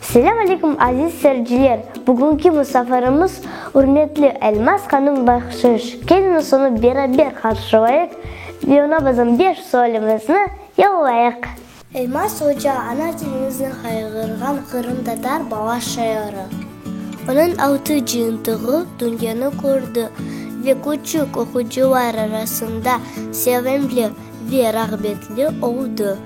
Selâm aleykum aziz sericiler! Bugünki musafarımız ürmetli Elmaz hanım Bahşış keliniz onı beraber qarşılayıq ve ona bizim beş sualimizni yollayıq. Elmaz oca ana tiliñizni hayğırğan qırımtatar bala şairi. Onıñ altı cıyıntığı dünyanı kördi ve küçük oqucılar arasında sevimli ve rağbetli oldı.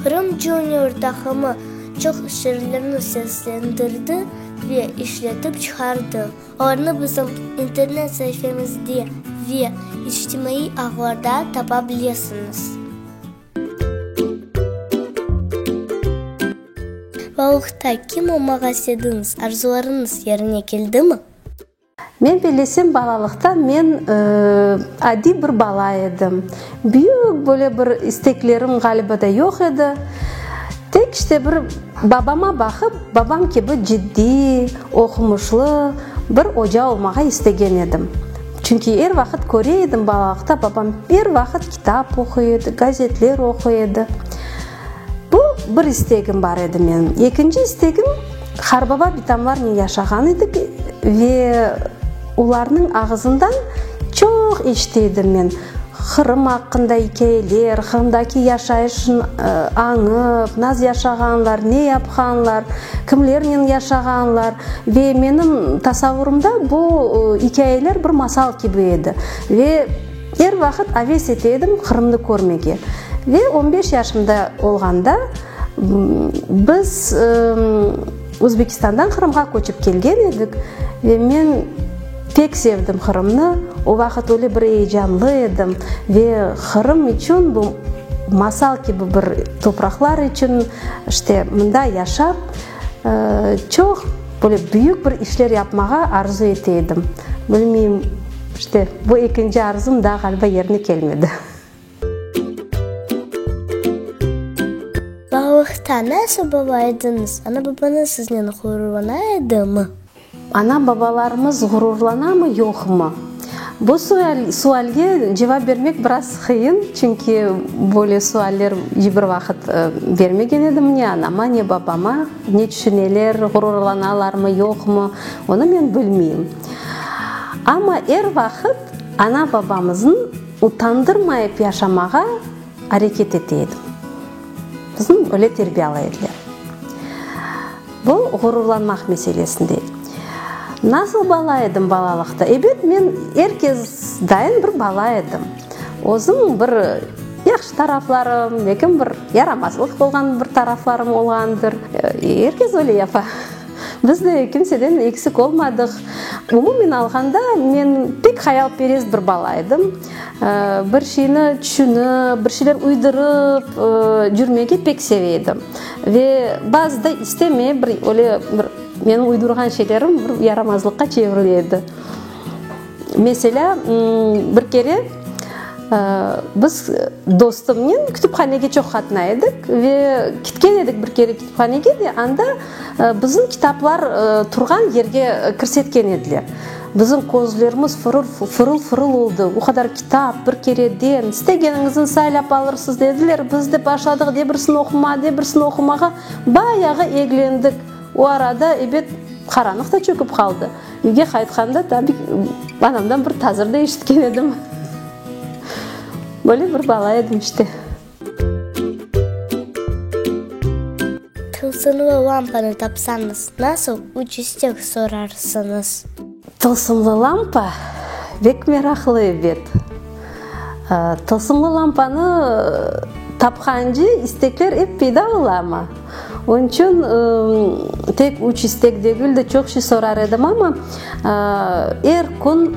Qırım Junior taqımı çoq şiirlerni seslendirdi ve işletip çıqardı. Olarnı bizim internet saifemizde ve içtimaiy ağlarda tapa bilesiñiz. Baluqta kim olmağa istediñiz? Arzularıñız yerine keldimi? Men bellesem, balalıqta men adiy bir bala edim. Büyük böyle bir isteklerim ğaliba da yoq edi. Tek işte bir babama baqıp, babam kibi ciddiy, oqumuşlı bir oca olmağa istegen edim. Çünki er vaqıt köre edim balalıqta babam er vaqıt kitap oquy edi, gazetler oquy edi. Bu bir istegim bar edi men. Ekinci istegim, Qarbaba bitamlarnen yaşağan edik ve olarnıñ ağızından çoq eşite edim men, Qırım aqqında ikâyeler, Qırımdaki yaşayışın añıp, naz yaşağanlar, ne yapqanlar, kimlernen yaşağanlar. Ve menim tasavurımda bu ikâyeler bir masal kibi edi. Ve. Er vaqıt aves ete edim Qırımnı körmege. Ve on beş yaşımda olğanda biz Özbekistandan Qırımğa köçip kelgen edik. Ve men pek sevdim Qırımnı. O vaqıt öyle bir eyecanlı edim. Ve Qırım içün bu masal kibi bir topraqlar içün, işte mında yaşap. Çoq böyle büyük bir işler yapmağa arzu ete edim. Bilmeyim, işte, bu ekinci arzum daa ğaliba yerine kelmedi. Balıqta nasıl baba ediñiz? Ana-babañız siznen ğururlana edimi? Ana-babalarımız ğururlanamı, yoqmı? Bu sualge cevap bermek biraz qıyın, çünki böyle sualler iç bir vaqıt bermegen edim ne anama, ne babama. Ne tüşüneler, ğururlanalarmı, yoqmı, onı men bilmeyim. Amma er vaqıt ana-babamıznı utandırmayıp yaşamağa areket ete edim. Bizni öyle terbiyalay ediler. Bu, ğururlanmaq meselesindey. Nasıl bala edim balalıqta? Ebet, men er kezdayin bir bala edim. Özüm bir yahşı taraflarım, lekin bir yaramazlıq olğan bir taraflarım olğandır. Er kez öyle yapa. Biz de kimseden eksik olmadıq. Umumen alğanda, men pek hayalperest bir bala edim. Bir şeyni tüşünip, bir şeyler uydurıp cürmege pek seve edim. Ve bazı da istemey, bir öyle bir menim uydurğan şeylerim bir yaramazlıqqa çevirile edi. Meselâ, bir kere biz dostumnen kütüphanege çoq qatnay edik ve ketken edik bir kere kütüphanege ve anda bizim kitaplar turğan yerge kirsetken ediler. Bizim közlerimiz fırıl-fırıl oldı. O qadar kitap, bir kereden, istegeniñizni saylap alırsız, dediler. Biz de başladıq de birsini oqumağa, de birsini oqumağa. Bayağı eglendik. O arada, ebet, qaranlıq da çökip qaldı. Üyge qaytqanda, tabi, anamdan bir tazır da eşitken edim. Böyle bir bala edim işte. Tılsımlı lampanı tapsañız, nasıl üç istek sorarsıñız? Tılsımlı lampa bek meraqlı ebet. Tılsımlı lampanı tapqance istekler ep peyda olama. Onıñ içün tek üç istek degil de, çoq şey sorar edim, amma er kün,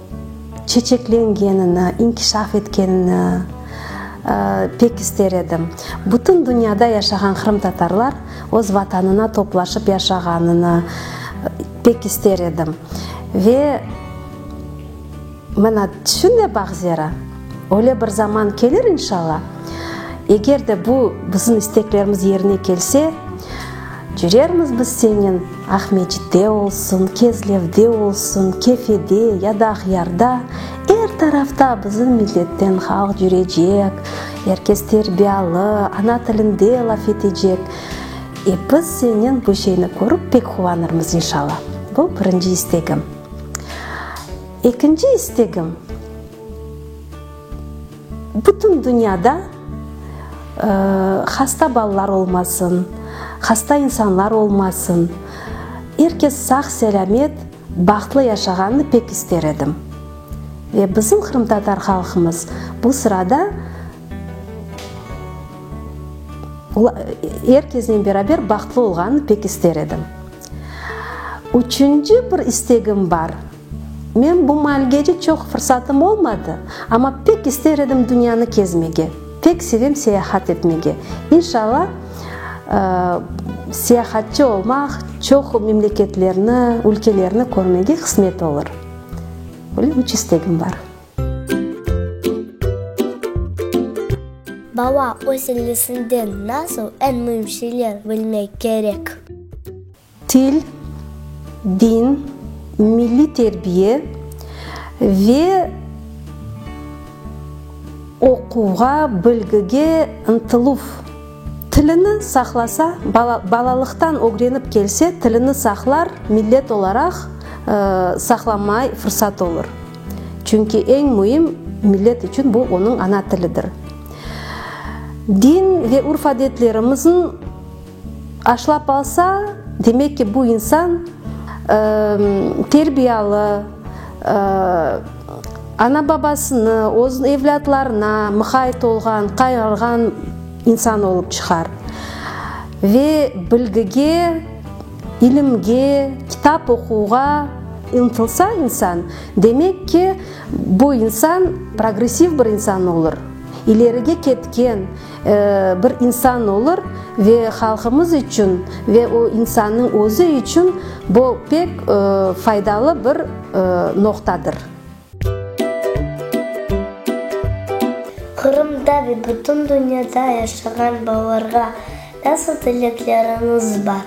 çeçeklengenini, inkişaf etkenini pek ister edim. Bütün dünyada yaşağan qırımtatarlar öz Vatanına toplaşıp yaşağanını pek ister edim. Ve mana şunday baht zera, öyle bir zaman kelir, inşalla, eger de bu bizim isteklerimiz yerine kelse, cürermiz biz senen, Aqmescitte olsun, Kezlevde olsun, Kefede ya da Aqyarda, er tarafta bizim milletten halq yürecek, er kes terbiyalı, ana tilinde laf etecek. E, biz senen bu şeyni körip pek quvanırmız, inşalla. Bu birinci istegim. Ekinci istegim. Bütün dünyada hasta balalar olmasın, hasta insanlar olmasın, er kes sağ-selâmet, bahtlı yaşağanını pek ister edim. Ve bizim qırımtatar halqımız bu sırada er kesnen beraber bahtlı olğanını pek ister edim. Üçünci bir istegim bar. Men bu malgece çoq fırsatım olmadı, amma pek ister edim dünyanı kezmege, pek sevem seyahat etmege. İnşalla, seyahatçı olmaq, çoq memleketlerni, ülkelerni körmege qısmet olur. Böyle üç istegim bar. Baba, öz illesinden nasıl eñ müim şeyler bilmek kerek? til, din, milliy terbiye ve oquvğa, bilgige ıntıluv. Tilini saqlasa, balalıqtan ögrenip kelse, tilini saqlar, millet olaraq saqlamay fırsat olur. Çünki eñ müim millet içün bu onıñ ana tilidir. Din ve urf-adetlerimizin. Aşlap alsa, demek ki, bu insan terbiyalı, ana-babasını, öz evlâtlarına muhayit olğan, qayğırğan insan olıp çıqar. Ve bilgige, ilimge, kitap oquvğa ıntılsa insan, demek ki, bu insan progressiv bir insan olur, ilerige ketken, Bir insan olur ve halqımız içün ve o insannıñ özü içün bu pek faydalı bir noqtadır. Qırımda ve bütün dünyada yaşağan balalarğa nasıl tilekleriniz bar?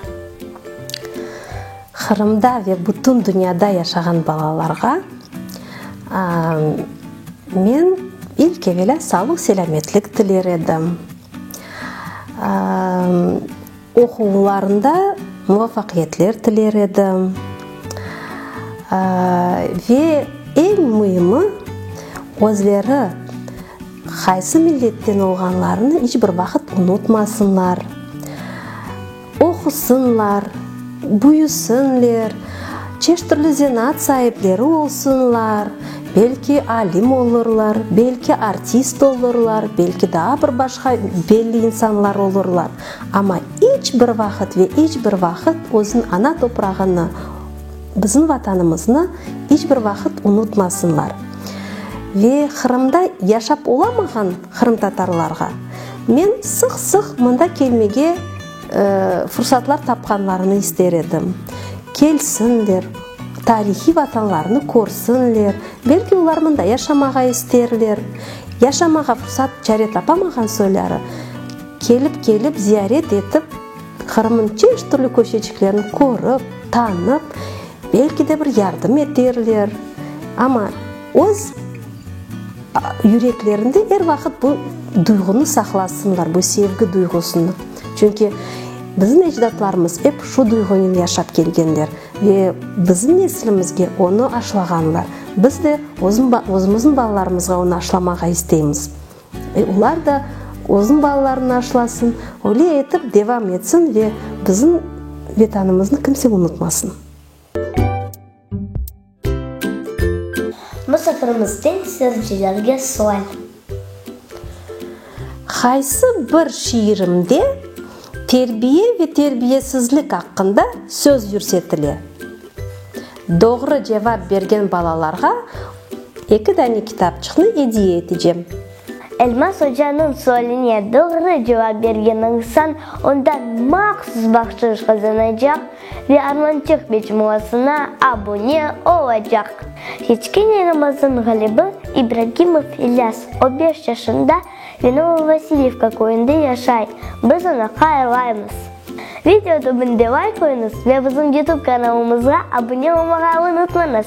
Qırımda ve bütün dünyada yaşağan balalarğa Men ilk evelâ sağlıq-selâmetlik tiler edim, oquvlarında muvafaqiyetler tiler edim ve eñ müimi, özleri qaysı milletten olğanlarını iç bir vaqıt unutmasınlar. Oqusınlar, büyüsinler, çeşit türlü zenaat saipleri olsunlar, belki alim olurlar, belki artist olurlar, belki daa bir başqa belli insanlar olurlar, amma iç bir vaqıt ve iç bir vaqıt özün ana toprağını, bizim Vatanımıznı iç bir vaqıt unutmasınlar. Ve Qırımda yaşap olamağan qırımtatarlarğa. Men sıq-sıq mında kelmege fursatlar tapqanlarını ister edim. Kelsinler, tarihiy vatanlarını körsinler, belki olar mında yaşamağa isterler. Yaşamağa fursat, çare tapamağan soyları, kelip-kelip, ziyaret etip, Qırım'ın çeşit türlü köşeciklerini körip, tanıp, belki de bir yardım eterler. Amma öz. Yüreklerinde er vaqıt bu duyğunı saqlasınlar, bu sevgi duyğusını. Çünki bizim ecdatlarımız ep şu duyğunen yaşap kelgenler ve bizim neslimizge onı aşlağanlar. Biz de özümizin balalarımızğa onı aşlamağa isteymiz. E, olar da özün balalarına aşlasın, öyle etip devam etsin ve bizim Vetanımıznı kimse unutmasın. Musafirimizden seyircilerge sual. Qaysı bir şiirimde terbiye ve terbiyesizlik aqqında söz yürsetile? Doğru cevap bergen balalarğa eki dane kitapçıqnı ediye etecem. Elmas ocanıñ sualine doğru cevap bergen insan ondan mahsus bahşış qazanacaq ve Armançıq mecmuasına abune olacaq. Keçkene Ramazan Ğalibi İbragimov İlyas, o beş yaşında ve Novovasilivka köyünde yaşay, biz onı hayırlaymız. Video tübünde layk qoyuñız ve bizim YouTube kanalımızğa abune olmağa unutmañız!